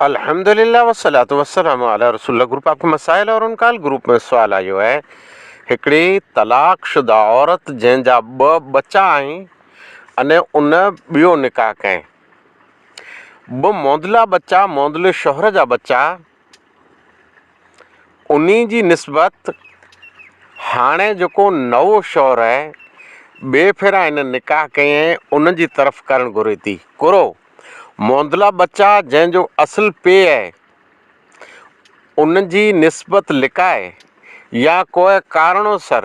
الحمد للہ والصلاۃ والسلام علی رسول اللہ گروپ آپ کے مسائل اور ان کا حل گروپ ۾ سوال آيو آهي هڪڙي طلاق شده عورت جنهن جا ٻه ٻچا آهن اني ان ٻيو نڪاح ڪئين ٻه موندلا ٻچا موندلي شوهر جا ٻچا انهي جي نسبت هاڻي جيڪو نئو شوهر آهي، ٻئي ڦيرا هن نڪاح ڪيائين، ان جي طرف ڪرڻ گهري ٿي. ڪرو. موندلا ٻچا جنهن جو اصل پيء آهي، ان جي نسبت لڪائي يا ڪوء ڪارڻو سر،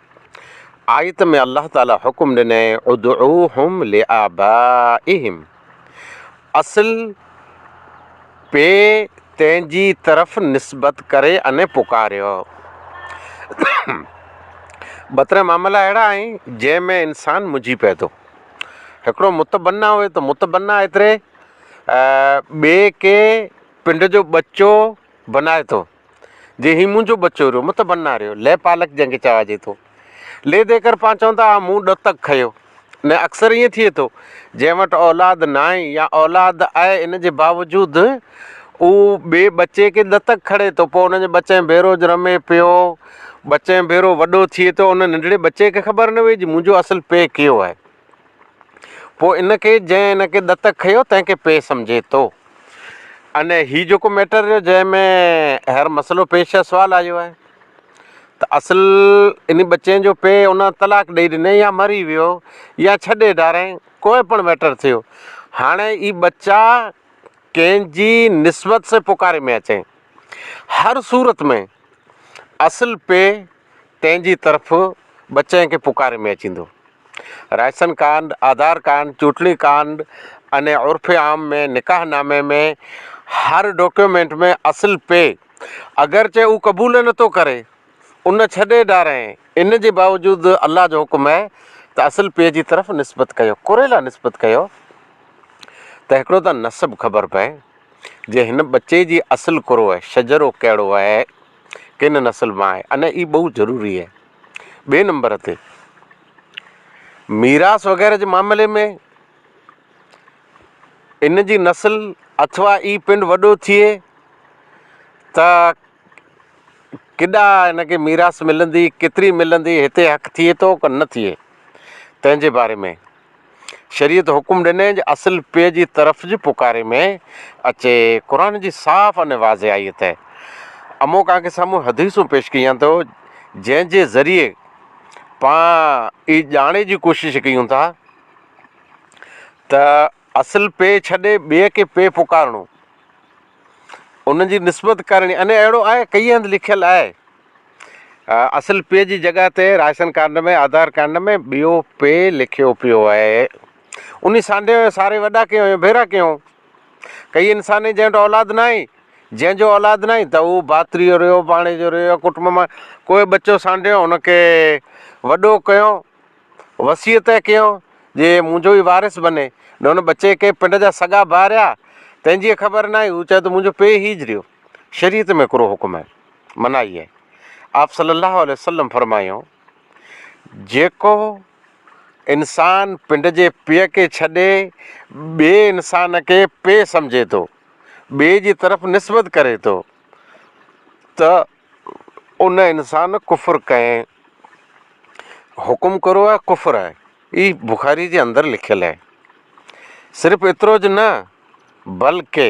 آيت ۾ الله تعالي حڪم ڏنئي ادعوهم لآبائهم اصل پي تين جي طرف نسبت ڪري ان پڪاريو. ٻه تري معاملا اهڙا آهن جنهن ۾ انسان منجهي پئي ٿو. هڪڙو متبني هئي ته متبني ايتري ٻي کي پنڊ جو ٻچو بنائي ٿو. جي هي منهنجو ٻچو ريو مت بنا ريو لئه پالڪ جنهن کي چواجي ٿو. لئه دي ڪر پان چون ٿا آء مون ڏتڪ کيو. نه اڪثر ائين ٿئي ٿو. جنهن وٽ اولاد ناهي يا اولاد آهي ان جي باوجود هو ٻئي ٻچي کي ڏتڪ کڻي ٿو پوء ان جي ٻچي ڀيرو رمي پيو ٻچي ڀيرو وڏو ٿئي ٿو ان ننڍڙي ٻچي کي خبر نه وئي جي منهنجو اصل پي ڪيو آهي. پوء ان کي جنهن ان کي دتڪ کنيو تنهن کي پيء سمجهي ٿو. اني هي جيڪو ميٽر رهيو جنهن ۾ هينئر مسئلو پيش آهي سوال آيو آهي ته اصل اني ٻچي جو پيء ان طلاق ڏئي ڏني يا مري ويو يا ڇڏي ڊارين ڪوئي پڻ ميٽر ٿيو هاڻي اي ٻچا ڪنهن جي نسبت سين پڪاري ۾ اچين هر صورت ۾ اصل پيء تنهن جي طرف ٻه چئن کي پڪاري ۾ اچيندو. رائسن ڪانڊ، آڌار ڪانڊ، چوٽلي ڪانڊ اني عرف عام ۾ نڪاح نامي ۾ هر ڊوڪيومينٽ ۾ اصل پي اگرچه او قبول نه ٿو ڪري ان ڇڏي ڊارين ان جي باوجود الله جو حڪم هي ته اصل پي جي طرف نسبت ڪيو ڪوري لا نسبت ڪيو ته هڪڙو ته نسب خبر پئي جي هن ٻچي جي اصل ڪورو هي شجرو ڪهڙو هي. ڪنھن نسل مان آھي ان اھي بھت ضروري اھي ٻي نمبر تي ميراث وغيره جي معاملي ۾ ان جي نسل اٿوا اھي پنڊ وڏو ٿئي ته ڪيڏا ان کي ميراث ملندي ڪيتري ملندي ھتي ھڪ ٿئي ٿو ڪي نه ٿئي تنھنجي باري ۾ شريعت حڪم ڏني جو اصل پيء جي طرف جي پڪاري ۾ اچي. قرآن جي صاف ۽ واضح آيت اهي امون ڪانڪي سامهون حديثون پيش ڪيون ٿو جنهن جي ذريعي پان اي ڄاڻي جي ڪوشش ڪيون ٿا ته اصل پيء ڇڏي ٻئي کي پيء پڪارڻو، ان جي نسبت ڪرڻي ۽ اهڙو آيت ڪيئي هنڌ لکيل آهي اصل پي جي جڳهه تي راشن ڪارڊ ۾ آڌار ڪارڊ ۾ ٻيو پي لکيو پيو آهي. انهي سانڍي ساري وڏا ڪيون ۽ ڀيرا ڪيون. ڪئي انساني جنهن وٽ اولاد ناهي، جنهن جو اولاد ناهي ته هو ڀاتري جو رهيو، ڀاڻيجي جو رهيو يا ڪٽنب مان ڪو ٻچو سانڍيو ان کي وڏو ڪيو، وصيت ئي ڪيو جي منهنجو ئي وارث بني. نه ان ٻچي کي پنڊ جا سڳا ڀاء رهيا تنهن جي خبر ناهي، هو چوي ته منهنجو پي هيج رهيو. شريعت ۾ هڪڙو حڪم آهي. منائي آهي. آپ صلّي اللّٰه عليه وسلّم فرمايو، جيڪو انسان پنڊ جي پيء کي ڇڏي ٻئي انسان کي پيء سمجهي ٿو، ٻئي جي طرف نسبت ڪري ٿو ته ان انسان ڪفر ڪئين حڪم ڪرو آهي ڪفر آهي هي بخاري جي اندر لکيل آهي صرف ايترو جو نه بلڪه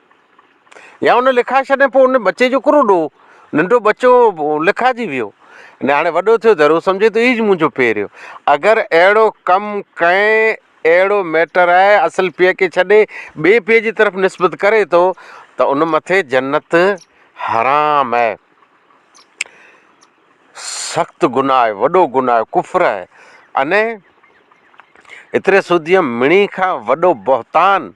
يا ان لکائي ڇڏي پوء ان ٻچي جو ڪھڙو ڏوھ، ننڍو ٻچو لکائجي ويو ۽ ھاڻي وڏو ٿيو ته ھو سمجھي ٿو اھيج منھنجو پيريو اگر اھڙو ڪم ڪنھن اھڙو ميٽر آھي اصل پيء کي ڇڏي ٻئي پيء جي طرف نسبت ڪري ٿو ته ان مٿي جنت حرام آھي سخت گناھ آھي وڏو گناھ آھي ڪفر آھي اني اتري سوديء مڻي کان وڏو بهتان